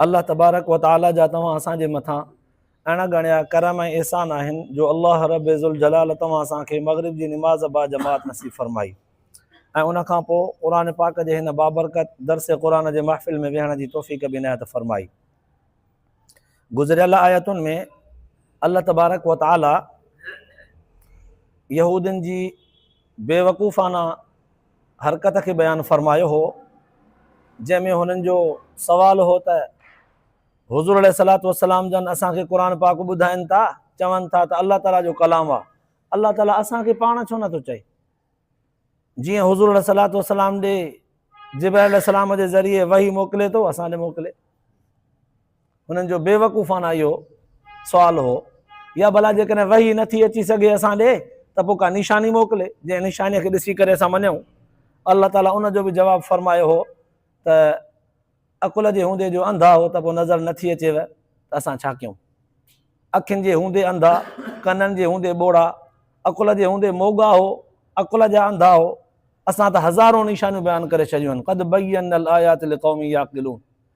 الله تبارڪ و تعاليٰ جا توهان اسان جي مٿان اڻ ڳڻيا ڪرم ۽ احسان آهن جو الله رب ذوالجلال توهان اسان کي مغرب جي نماز با جماعت نصيب فرمائي ۽ ان کان پوء قرآن پاڪ جي هن بابرڪت درس قرآن جي محفل ۾ ويهڻ جي توفيق به عنايت فرمائي گذريل آيتن ۾ الله تبارڪ و تعاليٰ يهودين جي بيوقوفانه حرڪت کي بيان فرمايو هو جنهن ۾ هنن جو سوال هو ته حضور عليه الصلاة والسلام جن اسان کي قرآن پاڪ ٻڌائن ٿا چون ٿا ته الله تعاليٰ جو ڪلام آ الله تعاليٰ اسان کي پاڻ ڇو نٿو چئي جي حضور عليه الصلاة والسلام ڏي جبرائيل السلام جي ذريعي وحي موڪلي ٿو اسان ڏي موڪلي انهن جو بيوقوفانه اهو سوال هو، يا ڀلا جيڪڏهن وحي نٿي اچي سگهي اسان ڏي ته پوء ڪا نشاني موڪلي، جنهن نشانيء کي ڏسي ڪري اسان مڃون. الله تعاليٰ ان جو به جواب فرمايو هو ته، عقل جي هوندي جو انڌا هو ته پوء نظر نٿي اچيو ته اسان ڇا ڪيون؟ اکين جي هوندي انڌا، ڪنن جي هوندي ٻوڙا، عقل جي هوندي موڳا هو، عقل جا انڌا هو، اسان ته هزارون نشانيون بيان ڪري ڇڏيون آهن، قد بينا الآيات لقوم يعقلون،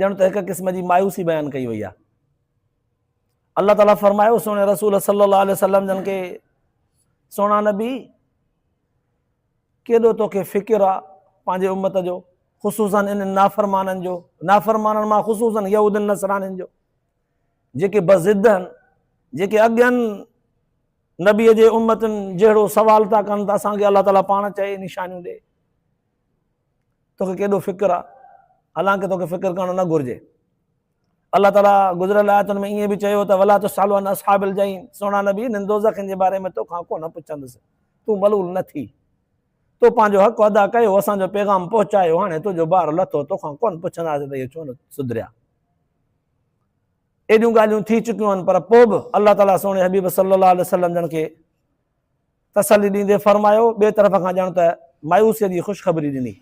ڄڻ ته هڪ قسم جي مايوسي بيان ڪئي وئي آهي الله تعاليٰ فرمايو سهڻي رسول صلي الله عليه وسلم جن کي سهڻا نبي ڪيڏو توکي فڪر آ پنهنجي امت جو خصوصا ان نافرمانن جو نافرمانن مان خصوصا يهودن نصرانن جو جيڪي بضد آهن جيڪي اڳين نبي جي امتن جهڙو سوال ٿا ڪن ته اسان کي الله تعاليٰ پاڻ چئي نشانيون ڏي توکي ڪيڏو فڪر آ حالانڪ توکي فڪر ڪرڻ نه گهرجي الله تعالي گذريل آيتن ۾ ائين به چيو ته ولا تسالو عن اصحاب الجحيم سونا نبي انهن دوزخن جي باري ۾ توکان ڪو نه پڇندس تون ملول نه ٿي تو پنهنجو حق ادا ڪيو اسان جو پيغام پهچايو هاڻي تنهنجو بار لٿو توکان ڪون پڇنداسين ته اهي ڇو نه سڌريا ايڏيون ڳالهيون ٿي چڪيون آهن پر پوء به الله تعالي سوڻي حبيب صلي الله عليه وسلم جن کي تسلي ڏيندي فرمايو، ٻئي طرف کان ڄڻ ته مايوسيء جي خوشخبري ڏني.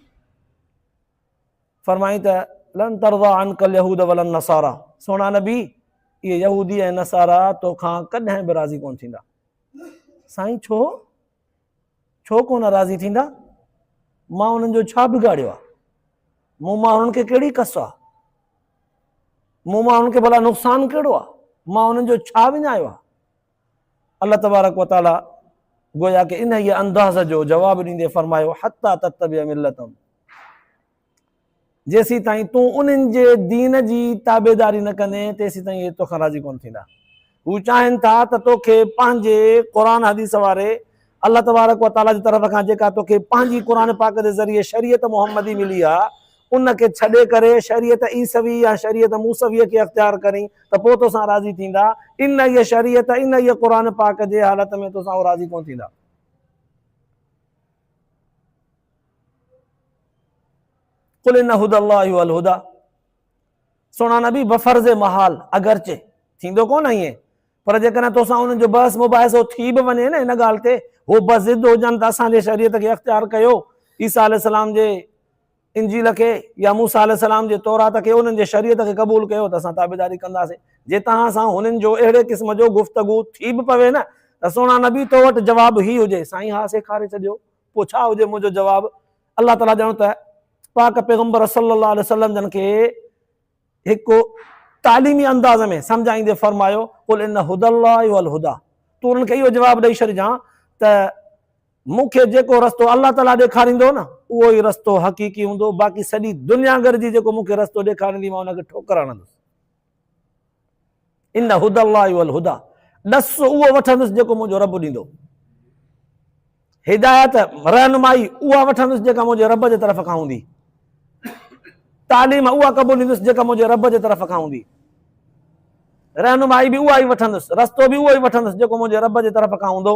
فرمائين ته، لن ترضي عنك اليهود ولا النصاري، سهڻا نبي! اهي يهودي ۽ نصارا تو کان ڪڏهن به راضي ڪونه ٿيندا. سائين ڇو؟ ڇو ڪونه راضي ٿيندا؟ مان انهن جو ڇا بگاڙيو آهي؟ مون مان انهن کي ڪهڙي ڪس آهي؟ مون مان انهن کي ڀلا نقصان ڪهڙو آهي؟ مان انهن جو ڇا وڃايو آهي؟ الله تبارڪ و تعالي گويا ڪه انهيء انداز جو جواب ڏيندي فرمايو، حتي تتبع ملتهم، جيسيتائين تون انهن جي دين جي تابعداري نه ڪندين، تيسيتائين اهي توکان راضي ڪونه ٿيندا. هو چاهين ٿا ته توکي پنهنجي قرآن حديث واري الله تبارڪ و تعاليٰ جي طرف کان جيڪا توکي پنهنجي قرآن پاڪ جي ذريعي شريعت محمدي ملي آ، ان کي ڇڏي ڪري شريعت عيسوي يا شريعت موسويء کي اختيار ڪرين ته پوء توسان راضي ٿيندا، انهيء شريعت، انهيء قرآن پاڪ جي حالت ۾ توسان هو راضي ڪونه ٿيندا. قل ان هدي الله هو الهدي سهڻا نبي بفرض محال، اگرچه، ٿيندو ڪونه ائين؟ پر جيڪڏهن تو سان انهن جو بحث مباحثو ٿي به وڃي نه ان ڳالهه تي هو بضد هجن ته اسان جي شريعت کي اختيار ڪيو عيسيٰ عليه السلام جي انجيل کي يا موسيٰ عليه السلام جي تورات کي انهن جي شريعت کي قبول ڪيو ته اسان تابعداري ڪنداسين جي توهان سان هنن جو اهڙي قسم جو گفتگو ٿي به پوي نه ته سهڻا نبي تو وٽ جواب هي هجي سائين ها سيکاري ڇڏيو پوء ڇا هجي منهنجو جواب الله تعاليٰ ڄڻ ته پاڪ پيغمبر صلي الله عليه وسلم جن کي هڪ تعليمي انداز ۾ سمجهائيندي فرمايو، قل ان هدي الله هو الهدي، تون انهن کي اهو جواب ڏئي ڇڏجان ته مون کي جيڪو رستو الله تعاليٰ ڏيکاريندو نه اهو ئي رستو حقيقي هوندو، باقي سڄي دنيا گڏجي جيڪو مون کي رستو ڏيکاريندي مان ان کي ٺوڪر هڻندس. ان هدي الله هو الهدي، ڏس اهو وٺندس جيڪو منهنجو رب ڏيندو. هدايت، رهنمائي، اها وٺندس جيڪا منهنجي رب جي طرف کان هوندي. تعليم اها قبوليندس جيڪا منهنجي رب جي طرف کان هوندي. رهنمائي به اها ئي وٺندس، رستو به اهو ئي وٺندس جيڪو منهنجي رب جي طرف کان هوندو،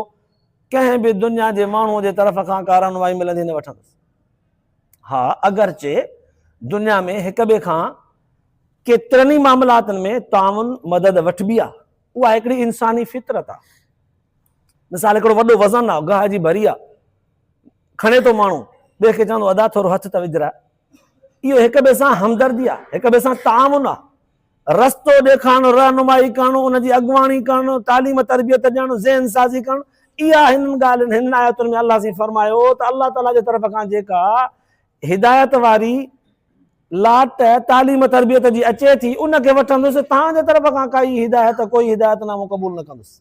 ڪنهن به دنيا جي ماڻهوء جي طرف کان ڪا رهنمائي ملندي نه وٺندس. ها اگرچه دنيا ۾ هڪ ٻئي کان ڪيترن ئي معاملاتن ۾ تعاون مدد وٺبي آ اها هڪڙي انساني فطرت آ مثال هڪڙو وڏو وزن آ گاهه جي ڀري آ کڻي ٿو ماڻهو ٻئي کي چوندو ادا ٿورو هٿ ته وجهراء اهو هڪ ٻئي سان همدردي آ هڪ ٻئي سان تعاون آ رستو ڏيکارڻ، رهنمائي ڪرڻ، ان جي اڳواڻي ڪرڻ، تعليم تربيت ڏيڻ، ذهن سازي ڪرڻ، اها هنن ڳالهين، هنن آيتن ۾ الله سين فرمايو ته الله تعاليٰ جي طرف کان جيڪا هدايت واري لاٽ تعليم تربيت جي اچي ٿي ان کي وٺندس، توهان جي طرف کان ڪائي هدايت، ڪوئي هدايت نامو قبول نه ڪندس.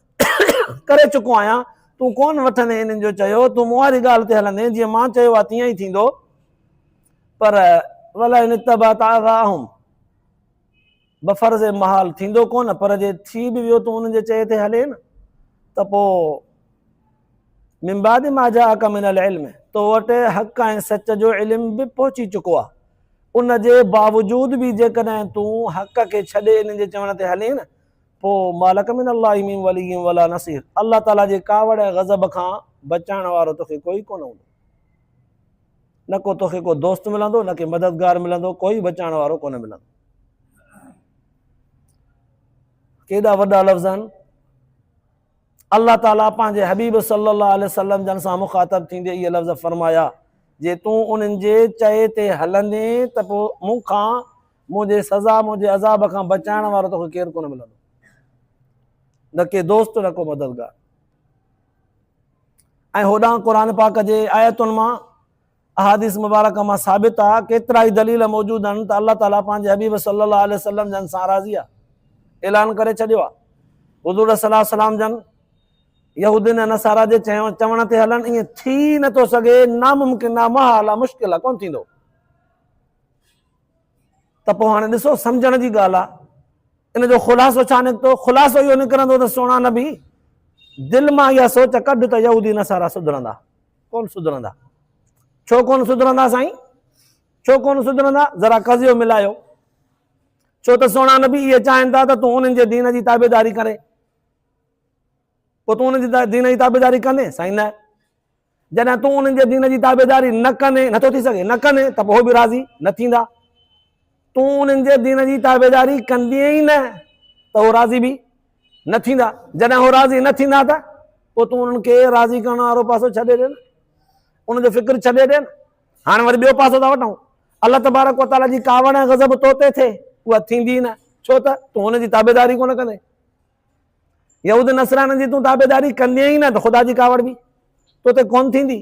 ڪري چڪو آهيان، تون ڪونه وٺندين انهن جو چيو، تون مون واري ڳالهه تي هلندين، جيئن مان چيو آهي تيئن ئي ٿيندو، پر ولئن اتبعت اهواءهم بفرض محال ٿيندو ڪونه، پر جي ٿي به ويو تون انهن جي چئي تي هلين ته پوء من بعد ما جاءك من العلم تو وٽ حق ۽ سچ جو علم به پهچي چڪو آهي ان جي باوجود به جيڪڏهن تون حق کي ڇڏي انهن جي چوڻ تي هلين پوء ما لڪ من الله من ولي ولا نصير الله تعاليٰ جي ڪاوڙ ۽ غضب کان بچائڻ وارو توکي ڪوئي ڪونه هوندو نه ڪو توکي ڪو دوست ملندو نه ڪي مددگار ملندو ڪوئي بچائڻ وارو ڪونه ملندو ڪيڏا وڏا لفظ آهن الله تعالیٰ پنهنجي حبيب صلي الله عليه وسلم جن سان مخاطب ٿيندي اهي لفظ فرمايا جي تون انهن جي چئي تي هلندين ته پوء مون کان منهنجي سزا، منهنجي عذاب کان بچائڻ وارو توکي ڪير ڪونه ملندو. نه ڪي دوست نه ڪو مددگار. ۽ هوڏانهن قرآن پاڪ جي آيتن مان احاديث مبارڪه مان ثابت آ ڪيترائي دليل موجود آهن ته الله تعالي پنهنجي حبيب صلي الله عليه وسلم جن سان راضي آ. اعلان ڪري ڇڏيو آ. حضور صلي الله عليه وسلم جن يهودين ۽ نصارا جي چوڻ تي هلڻ ائين ٿي نه ٿو سگهي، ناممڪن آ، محال آ، مشڪل آ، ڪونه ٿيندو. ته پوء هاڻي ڏسو سمجهڻ جي ڳالهه آهي ان جو خلاصو ڇا نڪتو؟ خلاصو اهو نڪرندو ته سهڻا نبي دل مان اها سوچ ڪڍ ته يهودي نصارا سڌرندا ڪون سڌرندا ڇو ڪون سڌرندا سائين ڇو ڪون سڌرندا ذرا قضيو ملايو ڇو ته سهڻا نبي اهي چاهين ٿا ته تون انهن جي دين جي تابعداري ڪري پوء تون انهن جي دين جي تابعداري ڪندين سائين نه جڏهن تون انهن جي دين جي تابعداري نه ڪندين، نه ٿو ٿي سگهي، نه ڪندين ته پوء هو به راضي نه ٿيندا. تون انهن جي دين جي تابعداري ڪندين ئي نه ته هو راضي به نه ٿيندا. جڏهن هو راضي نه ٿيندا ته پوء تون انهن کي راضي ڪرڻ وارو پاسو ڇڏي ڏي نه، ان جو فڪر ڇڏي ڏي نه. هاڻي وري ٻيو پاسو ٿا وٺون. الله تبارڪ و تعاليٰ جي ڪاوڙ ۽ غضب تو تي ٿئي، اها ٿيندي ئي نه، ڇو ته تون هن جي تابعداري ڪونه ڪندين. يهود نصرانن جي تون تابعداري ڪندين ئي نه ته خدا جي ڪاوڙ به تو تي ڪون ٿيندي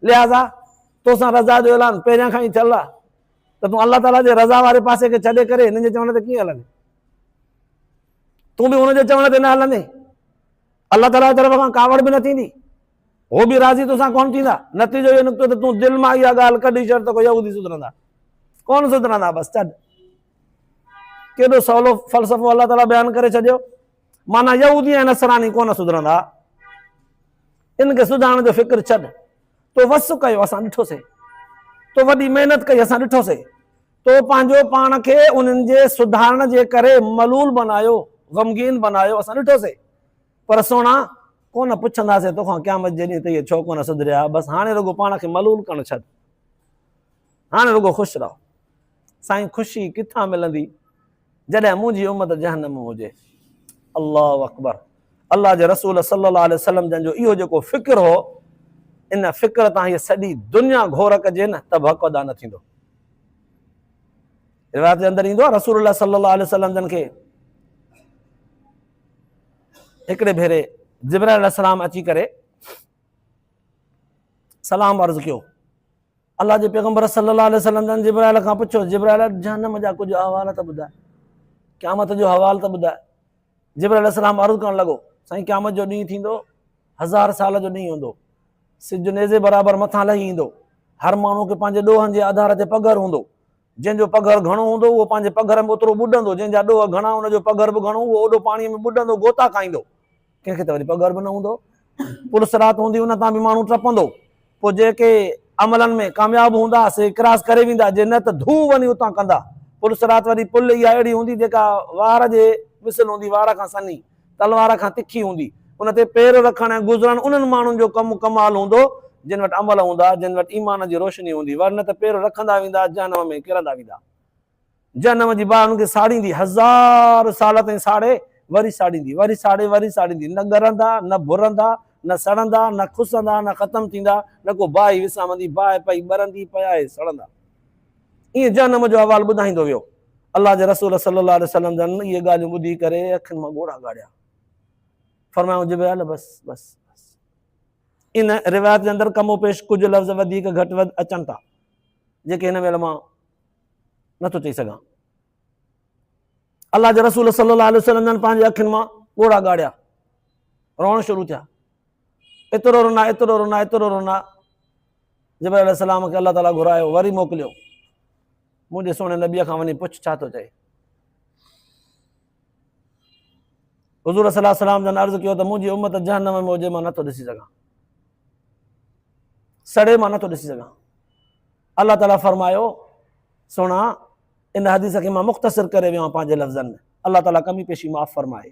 لهٰذا توسان رضا جو اعلان پهريان کان ئي ٿيل آهي ته تون الله تعاليٰ جي رضا واري پاسي کي ڇڏي ڪري هنن جي چوڻ تي ڪيئن هلندين تون به هن جي چوڻ تي نه هلندين الله تعاليٰ جي طرف کان ڪاوڙ به نه ٿيندي هو به راضي توسان ڪونه ٿيندا. نتيجو اهو نڪتو ته تون دل مان اها ڳالهه ڪڍي ڇڏ ته ڪو يهودي سڌرندا. ڪونه سڌرندا بس ڇڏ. ڪيڏو سولو فلسفو الله تعاليٰ بيان ڪري ڇڏيو. معنيٰ يهودي ۽ نصراني ڪونه سڌرندا. ان کي سڌارڻ جو فڪر ڇڏ. تو وس ڪيو اسان ڏٺوسي. تو وڏي محنت ڪئي اسان ڏٺوسي. تو پنهنجو پاڻ کي انهن جي سڌارڻ جي ڪري ملول بنايو، غمگين بنايو اسان ڏٺوسي. پر سهڻا، ڪونه پڇنداسين توکان قيامت جي ڏينهن ته اهي ڇو ڪونه سڌريا ها، بس هاڻي رڳو پاڻ کي ملول ڪرڻ ڇڏ. هاڻي رڳو خوش رهه. سائين خوشي ڪٿان ملندي جڏهن منهنجي امت جهنم ۾ هجي. الله اڪبر. الله جي رسول صلي الله عليه وسلم جن جو اهو جيڪو فڪر هو، ان فڪر تان هيء سڄي دنيا گهور ڪجي نه ته به حق ادا نه ٿيندو. روايت جي اندر ايندو آهي رسول الله صلي الله عليه وسلم جن کي هڪڙي ڀيري جبرائيل عليه السلام اچي ڪري سلام عرض ڪيو الله جي پيغمبر صلي الله عليه وسلم جن جبرائيل کان پڇيو جبرائيل جهنم جا ڪجهه احوال ته ٻڌاء قيامت جو حوال ته ٻڌاء جبرائيل عليه السلام عرض ڪرڻ لڳو سائين قيامت جو ڏينهن ٿيندو هزار سال جو ڏينهن هوندو سج نيزي برابر مٿان لهي ايندو هر ماڻهو کي پنهنجي ڏوهن جي آڌار تي پگهر هوندو جنهن جو پگهر گهڻو هوندو، اهو پنهنجي پگهر ۾ اوترو ٻڏندو، جنهن جا ڏوهه گهڻا، ان جو پگهر به گهڻو، اهو اوڏو پاڻيء ۾ ٻڏندو، غوطا کائيندو. ڪنهن کي ته وري پگهر به نه هوندو، پل صراط هوندي، ان تان به ماڻهو ٽپندو. پوء جيڪي عملن ۾ ڪامياب هوندا، سي ڪراس ڪري ويندا، جي نه ته ڌو وڃي اتان ڪندا. پل صراط وري پل اها اهڙي هوندي، جيڪا وار جي مثل هوندي، وار کان سنهي. تلوار کان تکي هوندي. ان تي پير رکڻ ۽ گذرڻ انهن ماڻهن جو ڪم ڪمال هوندو، جن وٽ عمل هوندا، جن وٽ ايمان جي روشني هوندي، ورنه ته پير رکندا ويندا، جهنم ۾ ڪرندا ويندا. جهنم جي باهه انهن کي ساڙيندي، هزار سال تائين ساڙي، وري ساڙيندي، وري ساڙي، وري ساڙيندي، نه ڳرندا، نه ڀرندا، نه سڙندا، نه کسندا، نه ختم ٿيندا، نه ڪو باهه ئي وسامندي، باهه پئي ٻرندي، پيا ئي سڙندا. ائين جهنم جو احوال ٻڌائيندو ويو. الله جي رسول صلّي الله عليه وسلّم جن اهي ڳالهيون ٻڌي ڪري اکين مان ڳوڙها ڳاڙيا. فرمايائون جبرئيل بس بس بس. ان روايت جي اندر ڪم و پيش ڪجهه لفظ وڌيڪ گهٽ وڌ اچن ٿا جيڪي هن مهل مان نٿو چئي سگهان. الله جي رسول صلّي الله عليه وسلّم جن پنهنجي اکين مان ڳوڙها ڳاڙيا روئڻ شروع ٿيا. ايترو رونا ايترو رونا ايترو رونا جبرائيل عليه السلام کي الله تعاليٰ گهرايو وري موڪليو منهنجي سهڻي نبيء کان وڃي پڇ ڇا ٿو چئي حضور صلي السلام جن عرض ڪيو ته منهنجي امت جهنم ۾ هجي مان نٿو ڏسي سگھان سڙي مان نٿو ڏسي سگھان الله تعاليٰ فرمايو سهڻا ان حديث کي مان مختصر ڪري ويو آهيان پنهنجي لفظن ۾ الله تعاليٰ ڪمي پيشي معاف فرمائي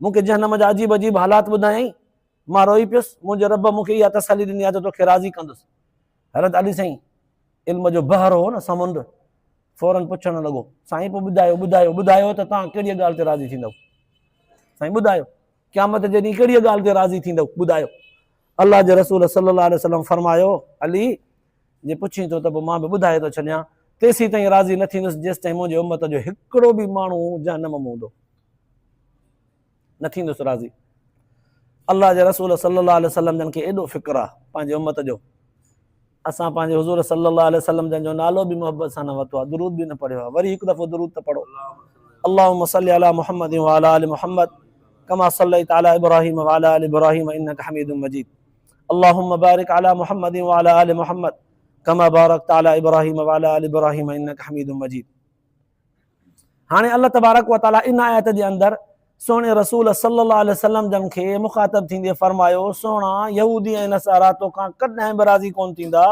مون کي جهنم جا عجيب عجيب حالات ٻڌايائين، مان روئي پيس، منهنجي رب مون کي اها تسلي ڏني آهي ته توکي راضي ڪندس. حضرت علي سائين علم جو بحر هو نه سمنڊ، فورن پڇڻ لڳو، سائين پوء ٻڌايو ٻڌايو ٻڌايو ته توهان ڪهڙيء ڳالهه تي راضي ٿيندؤ؟ سائين ٻڌايو قيامت جي ڏينهن ڪهڙيء ڳالهه تي راضي ٿيندؤ؟ ٻڌايو الله جي رسول صلي الله عليه وسلم فرمايو علي! جي پڇين ٿو ته پوء مان به ٻڌائي ٿو ڇڏيان، تيسيتائين راضي نه ٿيندس جيستائين منهنجي امت جو هڪڙو به ماڻهو جهنم ۾ هوندو. نه ٿيندس راضي. الله جي رسول صلي الله عليه وسلم جن کي ايڏو فڪر آ پنهنجي امت جو، اسان پنهنجي حضور صلي الله عليه وسلم جن جو نالو به محبت سان نه ورتو آ، درود به نه پڙهيو آ، وري هڪ دفعو درود ته پڙهو. اللهم صل علي محمد وعلي آل محمد ڪما صليت علي ابراهيم وعلي آل ابراهيم انڪ حميد مجيد. اللهم بارڪ علي محمد وعلي آل محمد ڪما بارڪت علي ابراهيم وعلي آل ابراهيم انك حميد مجيد هاڻي الله تبارڪ وتعالي ان آيت جي اندر سهڻي رسول صلي الله عليه وسلم جن کي مخاطب ٿيندي فرمايو سهڻا يهودي ۽ نصارا توکان ڪڏهن به راضي ڪون ٿيندا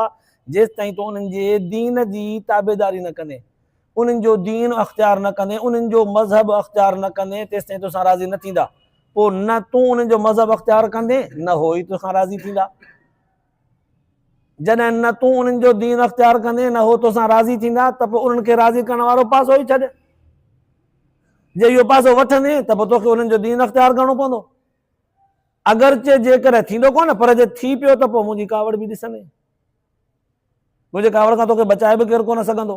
جيستائين تون انهن جي دين جي تابعداري نه ڪندين انهن جو دين اختيار نه ڪندين، انهن جو مذهب اختيار نه ڪندين تيستائين تو سان راضي نه ٿيندا. پوء نه تون انهن جو مذهب اختيار ڪندين نه هو ئي تو سان راضي ٿيندا. جڏهن نه تون انهن جو دين اختيار ڪندين نه هو تو سان راضي ٿيندا ته پوء انهن کي راضي ڪرڻ وارو پاسو ئي ڇڏ. جي اهو پاسو وٺندين ته پوء توکي انهن جو دين اختيار ڪرڻو پوندو. اگرچه جيڪڏهن ٿيندو ڪونه پر جي ٿي پيو ته پوء منهنجي ڪاوڙ به ڏسندين. منهنجي ڪاوڙ کان توکي بچائي به ڪير ڪونه سگهندو.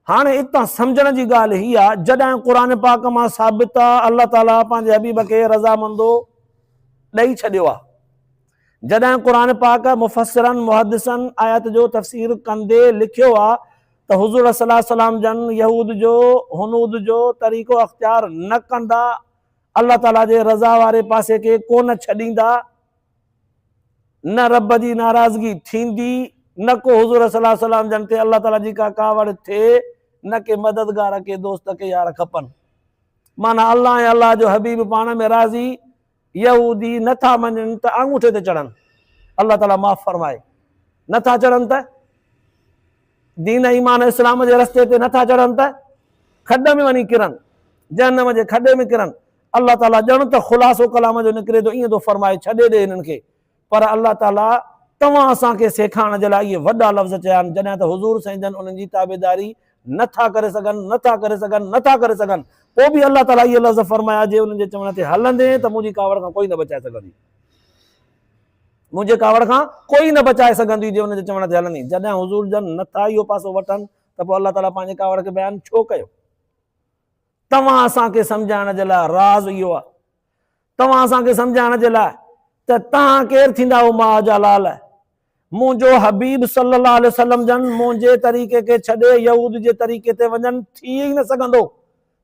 هاڻي اتان سمجهڻ جي ڳالهه هي آ جڏهن قرآن پاڪ مان ثابت آ الله تعاليٰ پنهنجي حبيب کي رضامندو ڏئي ڇڏيو آ. جڏهن قرآن پاڪ مفسرن محدثن آيت جو تفسير ڪندي لکيو آ ته حضور صلي الله عليه وسلم جن يهود جو هنود جو طريقو اختيار نه ڪندا الله تعاليٰ جي رضا واري پاسي کي ڪونه ڇڏيندا نه رب جي ناراضگي ٿيندي نه ڪو حضور صلي الله عليه وسلم جن تي الله تعالي جي ڪا ڪاوڙ ٿئي نه ڪي مددگار ڪي دوست ڪي يار کپن معنيٰ الله ۽ الله جو حبيب پاڻ ۾ راضي يهودي نه ٿا مڃن ته آڱوٺي تي چڙهن الله تعالي معاف فرمائي نه ٿا چڙهن ته دين ايمان اسلام جي رستي تي نه ٿا چڙهن ته کڏ ۾ وڃي ڪرن جهنم جي کڏي ۾ ڪرن الله تعالي ڄڻ ته خلاصو ڪلام جو نڪري ٿو ائين ٿو فرمائي، ڇڏي ڏي هنن کي. پر الله تعالي توهان اسان کي سيکائڻ جي لاء اهي وڏا لفظ چيا آهن، جڏهن ته حضور سائين جن انهن جي تابعداري نه ٿا ڪري سگهن، نه ٿا ڪري سگهن، نه ٿا ڪري سگهن. پوء به الله تعالي اهي لفظ فرمايا، جي انهن جي چوڻ تي هلندين ته منهنجي ڪاوڙ کان ڪوئي نه بچائي سگهندين. منهنجي ڪاوڙ کان ڪوئي نه بچائي سگهندين، جي انهن جي چوڻ تي هلندين. جڏهن حضور جن نه ٿا اهو پاسو وٺن ته پوء الله تعالي پنهنجي ڪاوڙ کي بيان ڇو ڪيو؟ توهان اسان کي سمجهائڻ جي لاء راز اهو آهي توهان اسان کي سمجهائڻ جي لاء ته تهان ڪير ٿيندا آهيو ماء جا لال منهنجو حبيب صلي الله عليه وسلم جن منهنجي طريقي کي ڇڏي يهود جي طريقي تي وڃن ٿي ئي نه سگهندو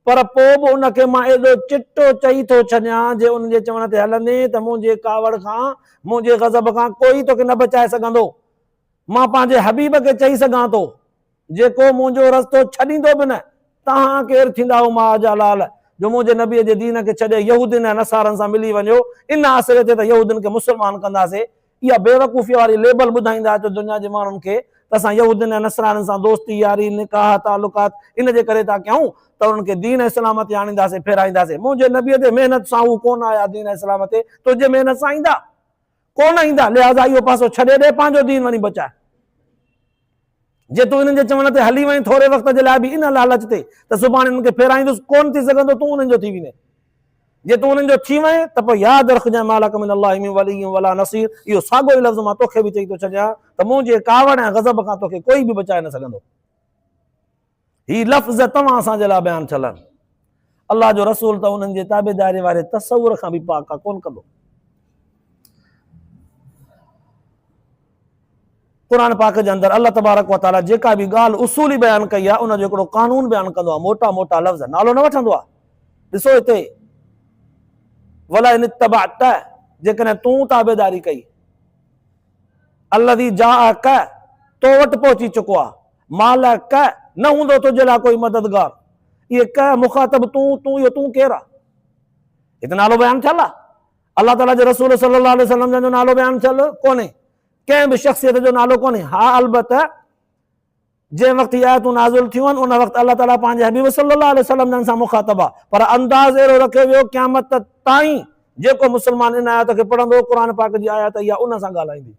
پر پوء به ان کي مان ايڏو چٽو چئي ٿو ڇڏيان جي ان جي چوڻ تي هلندين ته منهنجي ڪاوڙ کان منهنجي غضب کان ڪوئي توکي نه بچائي سگهندو مان پنهنجي حبيب کي چئي سگهان ٿو جيڪو منهنجو رستو ڇڏيندو به نه، توهان ڪير ٿيندا او ماء جا لال، جو منهنجي نبيء جي دين کي ڇڏي يهودين ۽ نصارن سان ملي وڃو، ان آسري تي ته يهودين کي مسلمان ڪنداسين. اها بيوقوفيء واري ليبل ٻڌائيندا اچو دنيا جي ماڻهن کي ته اسان يهودين ۽ نصرانين سان دوستي، ياري، نڪاح، تعلقات ان جي ڪري ٿا ڪيون ته انهن کي دين ۽ سلامتي آڻينداسين، ڦيرائينداسين. منهنجي نبيء تي محنت سان هو ڪونه آيا دين ۽ سلامتي تنهنجي محنت سان ايندا. ڪونه ايندا لهٰذا اهو پاسو ڇڏي ڏي پنهنجو دين وڃي بچاء. جي تون انهن جي چوڻ تي هلي وئين ٿوري وقت جي لاء به ان لالچ تي ته سڀاڻي انهن کي ڦيرائيندس ڪونه ٿي سگهندو تون انهن جو ٿي وڃين. جي تون انهن جو ٿي وئين ته پوء ياد رکجانء ما لڪ من الله من ولي ولا نصير اهو ساڳيو ئي لفظ مان توکي به چئي ٿو ڇڏيان ته منهنجي ڪاوڙ ۽ غضب کان توکي ڪوئي به بچائي نه سگهندو. هي لفظ توهان اسان جي لاء بيان ٿيل آهن. الله جو رسول ته انهن جي تابعداري واري تصور کان به پاڪ آهي، ڪونه ڪندو. قرآن پاڪ جي اندر الله تبارڪ و تعاليٰ جيڪا به ڳالهه اصولي بيان ڪئي آهي ان جو هڪڙو قانون بيان ڪندو آهي موٽا موٽا لفظ نالو نه وٺندو آهي ڏسو هتي ولا ان اتبعت جيڪڏهن تون تابعداري ڪئي الذي جاءك تو وٽ پهچي چڪو آهي مال ڪه، نه هوندو تنهنجي لاء ڪوئي مددگار. اهي ڪه، مخاطب، تون، تون، اهو تون ڪير آهي؟ هتي نالو بيان ٿيل آهي. الله تعاليٰ جي رسول صلي الله عليه وسلم جن جو نالو بيان ٿيل ڪونهي. ڪنهن به شخصيت جو نالو ڪونهي. ها البته جنهن وقت هي آيتون نازل ٿيون آهن ان وقت الله تعاليٰ پنهنجي حبيب صلي الله عليه وسلم جن سان مخاطب آهي پر انداز اهڙو رکيو ويو قيامت تائين جيڪو مسلمان ان آيت کي پڙهندو قرآن پاڪ جي آيت اها ان سان ڳالهائيندي.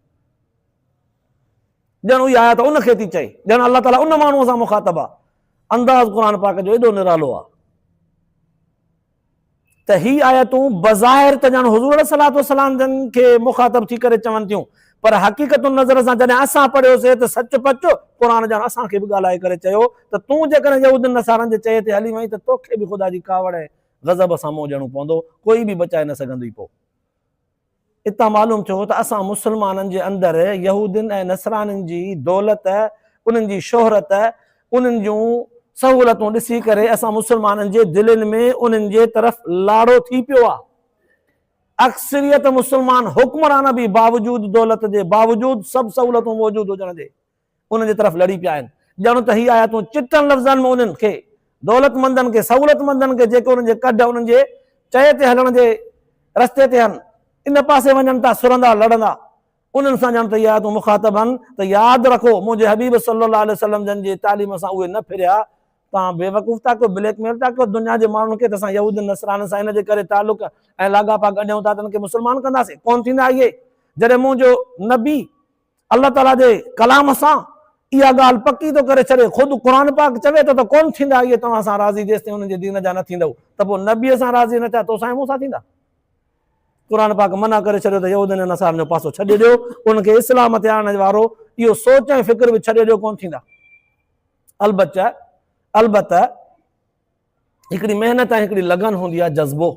ڄڻ اھي آيات ان کي ٿي چئي، ڄڻ الله تعالي ان ماڻھوء سان مخاطب آ. انداز قرآن پاڪ جو ايڏو نرالو آ ته ھي آيتون بظاھر ته ڄڻ حضور عليه الصلوة والسلام جن کي مخاطب ٿي ڪري چون ٿيون پر حقيقت النظر سان جڏھن اسان پڙھيوسي ته سچ پچ قرآن ڄڻ اسان کي به ڳالھائي ڪري چيو ته تون جيڪڏھن يھودين نصارن جي چئي تي ھلي وئين ته توکي به خدا جي ڪاوڙ ۽ غضب سان منھن ڏيڻو پوندو ڪوئي به بچائي نه سگھندئي پوء اتان معلوم ٿيو ته اسان مسلمانن جي اندر يهودين ۽ نصرانين جي دولت، انهن جي شهرت، انهن جون سهولتون ڏسي ڪري اسان مسلمانن جي دلين ۾ انهن جي طرف لاڙو ٿي پيو آ. اڪثريت مسلمان حڪمران به باوجود دولت جي، باوجود سڀ سهولتون موجود هجڻ جي، انهن جي طرف لڙي پيا آهن. ڄڻ ته هي آيتون چٽن لفظن ۾ انهن کي، دولتمندن کي، سهولتمندن کي جيڪي انهن جي ڪڍ، انهن جي چئي تي هلڻ جي رستي تي هن، ان پاسي وڃن ٿا سرندا، لڙندا. انهن سان ڄڻ ته هي آيتون مخاطب هن ته ياد رکو منهنجي حبيب صلّي الله عليه وسلّم جن جي تعليم سان اهي نه ڦريا، توهان بيوقوف ٿا ڪيو، بليڪ ميل ٿا ڪيو دنيا جي ماڻهن کي ته اسان يهودين نصرانين سان ان جي ڪري تعلق ۽ لاڳاپا ڳنڍيون ٿا ته انهن کي مسلمان ڪنداسين. ڪونه ٿيندا اهي. جڏهن منهنجو نبي. الله تعاليٰ جي ڪلام سان اها ڳالهه پڪي ٿو ڪري ڇڏي، خود قرآن پاڪ چوي ٿو ته ڪونه ٿيندا اهي توهان سان راضي جيستائين انهن جي دين جا نه ٿيندؤ ته پوء نبيء سان راضي نه ٿيا توسان ۽ مون سان ٿيندا؟ قرآن پاڪ منع ڪري ڇڏيو ته يهودين ۽ نصارن جو پاسو ڇڏي ڏيو، انهن کي اسلام تي آڻڻ وارو اهو سوچ ۽ فڪر به ڇڏي ڏيو ڪونه ٿيندا. البچه البته هڪڙي محنت ۽ هڪڙي لگن هوندي آهي جذبو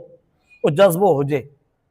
اهو جذبو هجي.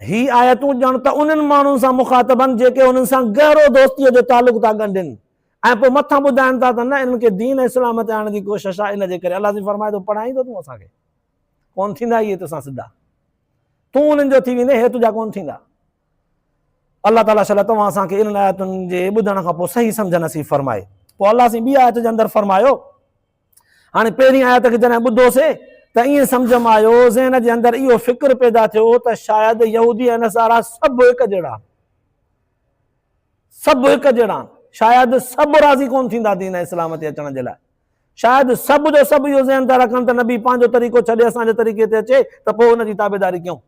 هي آيتون ڄڻ ته انهن ماڻهن سان مخاطب آهن جيڪي انهن سان گهرو دوستيء جو تعلق ٿا ڳنڍين ۽ پوء مٿان ٻڌائين ٿا ته نه انهن کي دين ۽ اسلام تي آڻڻ جي ڪوشش آهي ان جي ڪري الله سائين فرمائي ٿو پڙهائين ٿو تون اسان کي ڪون ٿيندا اهي تو سان سڌا تون انهن جو ٿي ويندين هي تنهنجا ڪون ٿيندا الله تعالیٰ شل توهان اسان کي انهن آيتن جي ٻڌڻ کان پوء صحيح سمجھ نصيب فرمائي پوء الله سائين ٻي آيت جي اندر فرمايو هاڻي پهرين آيت کي جڏهن ٻڌوسي ته ائين سمجهه مان آيو، ذهن جي اندر اهو فڪر پيدا ٿيو ته شايد يهودي ۽ نصارا سڀ هڪ جهڙا آهن. سڀ هڪ جهڙا آهن. شايد سڀ راضي ڪونه ٿيندا دين اسلام تي اچڻ جي لاء. شايد سڀ جو سڀ اهو ذهن ٿا رکن ته نبي پنهنجو طريقو ڇڏي اسان جي طريقي تي اچي ته پوء ان جي تابعداري ڪيون.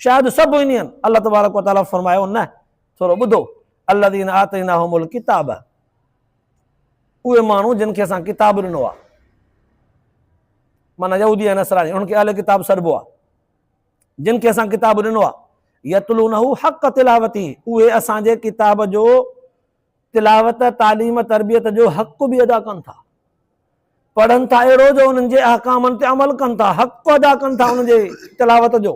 شايد سڀ ائين آهن. الله تبارڪ وتعاليٰ فرمايو نه ٿورو ٻڌو الذين آتيناهم الڪتاب اهي ماڻهو جن کي اسان ڪتاب ڏنو آهي معنيٰ يهودي ۽ نصراني انهن کي اهل ڪتاب سڏبو آهي جن کي اسان ڪتاب ڏنو آهي يتلونه حق تلاوتي اهي اسان جي ڪتاب جو تلاوت تعليم تربيت جو حق به ادا ڪن ٿا پڙهن ٿا اهڙو جو انهن جي احڪامن تي عمل ڪن ٿا، حق ادا ڪن ٿا ان جي تلاوت جو،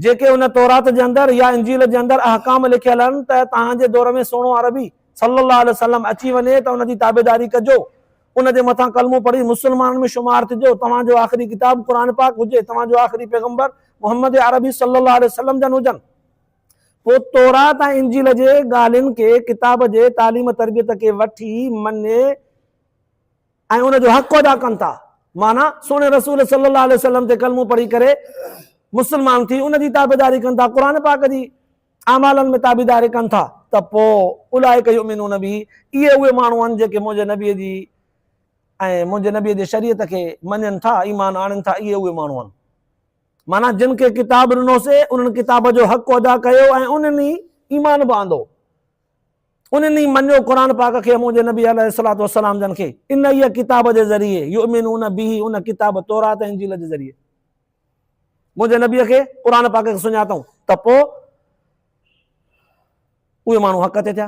جيڪي ان تورات جي اندر يا انجيل جي اندر احڪام لکيل آهن ته توهان جي دور ۾ سهڻو عربي صلّي اللّٰه عليه وسلّم اچي وڃي ته ان جي تابعداري ڪجو، ان جي مٿان ڪلمو پڙهي مسلمانن ۾ شمار ٿجو، توهان جو آخري ڪتاب قرآن پاڪ هجي، توهان جو آخري پيغمبر محمّد عربي صلّي اللّٰه عليه وسلّم جن هجن. پوء تورات ۽ انجيل جي ڳالهين کي ڪتاب جي تعليم تربيت کي وٺي مڃي ۽ ان جو حق ادا ڪن ٿا. معنيٰ، سهڻي رسول صلي الله عليه وسلم تي ڪلمو پڙهي ڪري مسلمان ٿي ان جي تابعداري ڪن ٿا، قرآن پاڪ جي اعمالن ۾ تابعداري ڪن ٿا ته پوء اولئک يؤمنون به، اهي اهي ماڻهو آهن جيڪي منهنجي نبي جي ۽ منهنجي نبي جي شريعت کي مڃين ٿا، ايمان آڻين ٿا، اهي اهي ماڻهو آهن. معنيٰ جن کي ڪتاب ڏنوسي انهن ڪتاب جو حق ادا ڪيو ۽ انهن ئي ايمان به آندو. انهن ئي مڃيو قرآن پاڪ کي ۽ منهنجي نبي عليه الصلوة والسلام جن کي انهيء ڪتاب جي ذريعي، يؤمنون به، ان ڪتاب تورات ۽ انجيل جي ذريعي منهنجي نبيء کي، قرآن پاڪ کي، سڃاتائون ته پوء اهي ماڻهو حق تي ٿيا.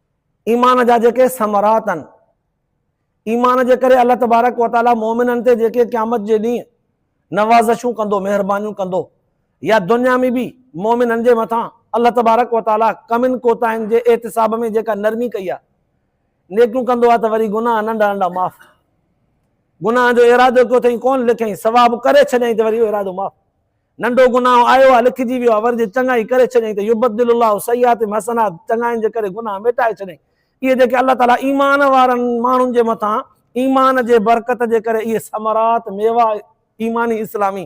ايمان جا جيڪي ثمرات آهن، ايمان جي ڪري الله تبارڪ و تعالي مؤمنن تي جيڪي قيامت جي ڏينهن نوازشون ڪندو، مهربانيون ڪندو يا دنيا ۾ به مؤمنن جي مٿان الله تبارڪ و تعالي ڪمين ڪوتاهين جي احتساب ۾ جيڪا نرمي ڪئي آهي، نيڪيون ڪندو آهي ته وري گناهه ننڍا ننڍا معاف، گناهن جو ارادو ڪيو اٿئي ڪونه لکيائين ثواب ڪري ڇڏيائين ته وري اهو ارادو معاف. ننڍو گناهه آيو آ، لکجي ويو آ، ور جي چڱائي ڪري ڇڏيائين ته يبدل الله سيئاتهم حسنات، چڱاين جي ڪري گناهه ميٽائي ڇڏيائين. اهي جيڪي الله تعاليٰ ايمان وارن ماڻهن جي مٿان ايمان جي برڪت جي ڪري اهي ثمرات، ميوا، ايماني اسلامي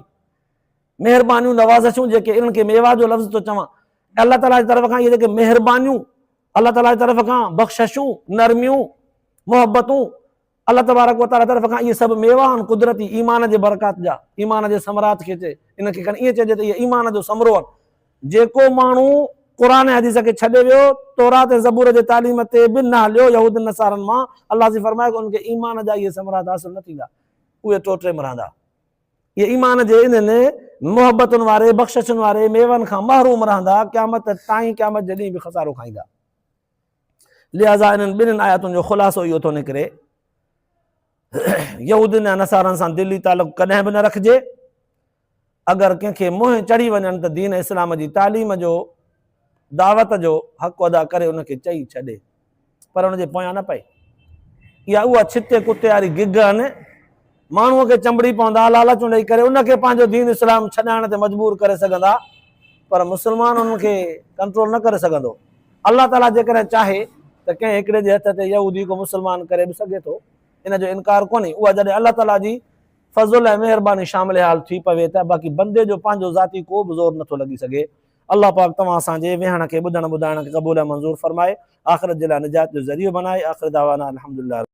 مهربانيون، نوازشون جيڪي انهن کي ميوا جو لفظ ٿو چوان، الله تعاليٰ جي طرف کان اهي جيڪي مهربانيون، الله تعاليٰ جي طرف کان بخششون، نرميون، محبتون، الله تبارڪ و تعاليٰ طرف کان اهي سڀ ميوا آهن قدرتي ايمان جي برڪات جا ايمان جي ثمرات کي چئي ان کي کڻي ائين چئجي ته اهي ايمان جو ثمرو آهن جيڪو ماڻهو قرآن ۽ حديث کي ڇڏي ويو تورات ۽ زبور جي تعليم تي به نه هليو يهودن نصارن مان الله سي فرمايو ته ان کي ايمان جا اهي ثمرات حاصل نه ٿيندا اهي ٽوٽي ۾ رهندا اهي ايمان جي انهن محبتن واري بخششن واري ميون کان محروم رهندا قيامت تائين قيامت جي ڏينهن به خسارو کائيندا لهٰذا انهن ٻنهين آيتن جو خلاصو اهو ٿو نڪري يهودين يا نصارن سان دلي تعلق ڪڏهن به نه رکجي اگر ڪنهن کي منهن چڙهي وڃن ته دين اسلام جي تعليم جو دعوت جو حق ادا ڪري ان کي چئي ڇڏي پر ان جي پويان نه پئي اها اها ڇتي ڪتي واري گگ آهن ماڻهوء کي چنبڙي پوندا، لالچون ڏئي ڪري ان کي پنهنجو دين اسلام ڇڏائڻ تي مجبور ڪري سگهندا، پر مسلمان انهن کي ڪنٽرول نه ڪري سگهندو. الله تعاليٰ جيڪڏهن چاهي ته ڪنهن هڪڙي جي هٿ تي يهودي کي مسلمان ڪري به سگهي ٿو، ان جو انڪار ڪونهي، اها جڏهن الله تعاليٰ جي فضل ۽ مهرباني شامل حال ٿي پوي ته باقي بندي جو پنهنجو ذاتي ڪو به زور نٿو لڳي سگهي. الله پاڪ توهان اسان جي ويهڻ کي ٻڌڻ ٻڌائڻ کي قبول ۽ منظور فرمائي، آخرت جي لاء نجات جو ذريعو بنائي، آخر دعوانا ان الحمدلله رب.